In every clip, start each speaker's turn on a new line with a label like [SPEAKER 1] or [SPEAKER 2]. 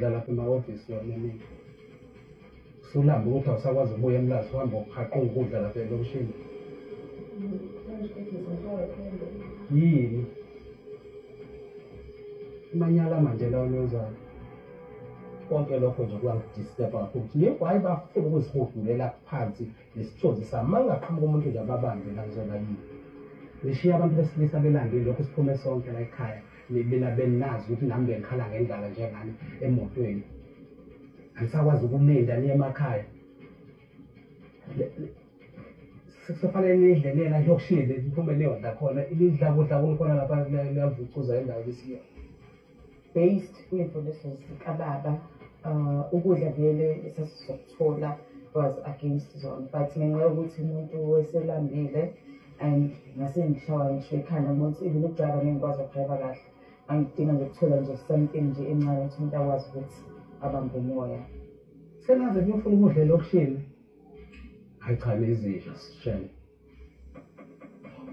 [SPEAKER 1] lapha emahhovisi yomeningi sulamba ukuthi awusakwazi ukubuya emlazi uhamba uqhaqha ukudla lapha elokishini yini imanyala manje lawo niwenzayo konke lokho nje kuyangidisturba kakhulu ukuthi yebo hhayi bafuna ukuzihudulela phansi nesithunzi sami ma ngingaqhamuka umuntu nje ababambe la ngizona yini ngishiye abantu besilisa belande lokhu siphume sonke la ekhaya Mina beninazi ukuthi nami bengikhala ngendlala njengani emotweni. Angisakwazi ukulinda niye emakhaya. Sekufanele nidle nina yokushile niphume niyodla khona ilidla kudla kulikhona lapha liyavucuza indawo lisiyo.
[SPEAKER 2] Based kuyimfundiso zikababa uh, ukudla vele esasizokuthola was against zona but ngenxa yokuthi umuntu weselambile and ngase ngishawa ngisho ikhanda ngoba ukuthi even ukudriva ngeke ngikwazi ukudriva kahle angidinga nje ukuthola nje something nje encane ukuthi umuntu akwazi ukuthi abambe umoya sengaze
[SPEAKER 1] kuyofuna ukudla elokishini hayi cha nezidla sishele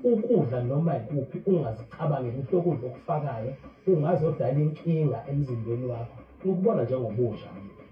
[SPEAKER 1] ukudla noma yikuphi ungazicabangeli ukuthi lokudla okufakayo ungazodala inkinga emzimbeni wakho ukubona njengobusha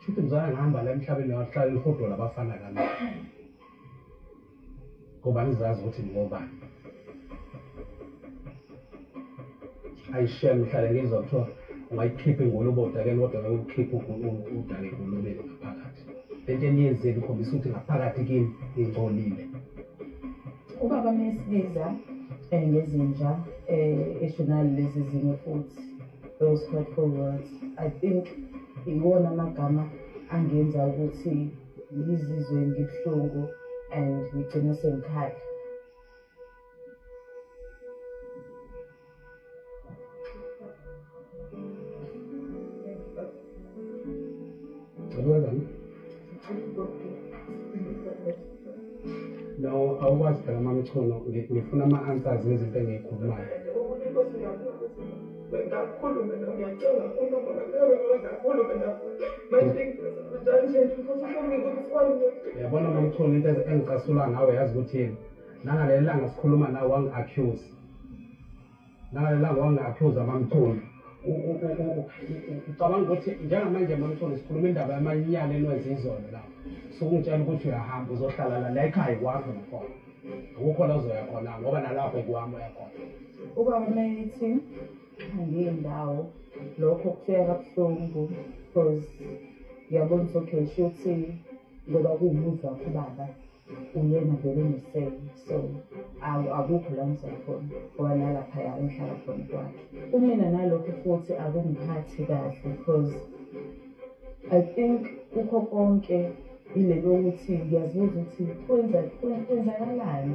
[SPEAKER 1] Shuthi mzala ngihamba la emhlabeni wahlala lihodo labafana kami. Ngoba nizazi ukuthi ngoba. Ayishem ngihlale ngizwa kuthiwa ungayikhipha ingulubota ke kodwa ngeke ukhiphe udale ingulubeni ngaphakathi. Lento eniyenzile ikhombisa ukuthi ngaphakathi kimi ngingcolile.
[SPEAKER 2] Ubaba mesibiza eh, ngezinja eh eshonali lezi zinto futhi Those hurtful words, I think iwona amagama angenza ukuthi ngizizwe ngibuhlungu and ngigcine sengikhala.
[SPEAKER 1] Well done. No, awukwazi phela mamchono ngifuna ama-answers ngezinto engiyikhulumayo bengakhulume lo ngiyacinga uma ngoba kuyobe bengakhulume la manje njalo nje futhi ufunge ukuthi kwanje yabona mamtholi into engicasula ngawe yazi ukuthi yini nangaleli langa sikhuluma nawe wangi-accuse naye la wangaphuza mamtholi ucabanga ukuthi njengamanje mamtholi sikhuluma indaba yamanyala enwenza izolo la sukungitshela ukuthi uyahamba uzohlala la la ekhaya kwakho nakhona akukho la uzoya khona ngoba nalapho ekuhamba uyakhona uba
[SPEAKER 2] umethi angiye ndawo lokho kufika kabuhlungu because ngiyabona ukuthi okay shuthi ngoba kuwumuzi wakho ubaba uyena vele unesele so awu akukho la ngizwa khona ngoba nalaphaya engihlala khona kwakhe kumina nalokho futhi akungiphathi kahle because i think kukho konke ile lokuthi ngiyazibuza ukuthi kwenza kwenzakalani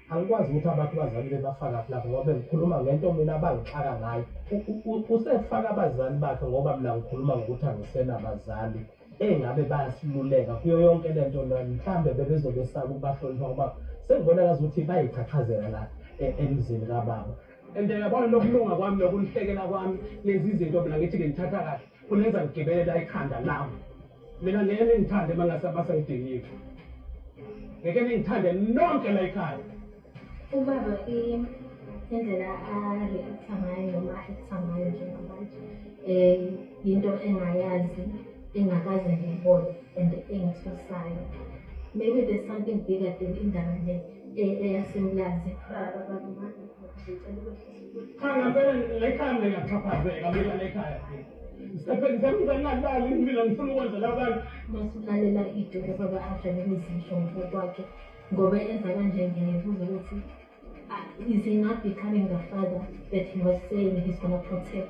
[SPEAKER 1] angikwazi ukuthi abantu bazali bebafakaphi lapho ngoba bengikhuluma ngento mina abangixaka ngayo usefaka abazali bakhe ngoba mina ngikhuluma ngokuthi angisenabazali engabe bayasiluleka kuyo yonke le nto mhlawumbe bebezobe saba ukubahlonipha ngoba sengibona kazi ukuthi bayichaphazela la e, emzini kababa and yabona lokulunga kwami nokunhlekela kwami lezi zinto mina ngithi ngimthatha kahle Ulenza ngigibela ikhanda lami. Mina ngeke ningithande uma ngase basengidingile. Ngeke ningithande nonke la ekhaya. Ubaba
[SPEAKER 3] i indlela a-react-a ngayo noma a-act-a ngayo njengamanje um yinto engayazi engakaze ngiyibone and engithusayo maybe there's something bigger than indaba le eyasemlazi
[SPEAKER 1] Cha ngempela lekhaya mina ngiyaxhaphazeka mina lekhaya. Ngisebenzisa nginganalali mina
[SPEAKER 3] ngifuna ukwenzela abantu. Masulalela idolo baba adlale izisho ngokwakhe ngoba enza kanje ngiyayibuza ukuthi is he not becoming the father that he was saying he's gonna protect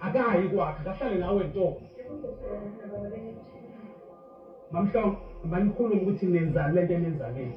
[SPEAKER 1] akayi kwakhe kahlale nawe ntombi mamhlongo manikhulume ukuthi nenzani lento enenzaneni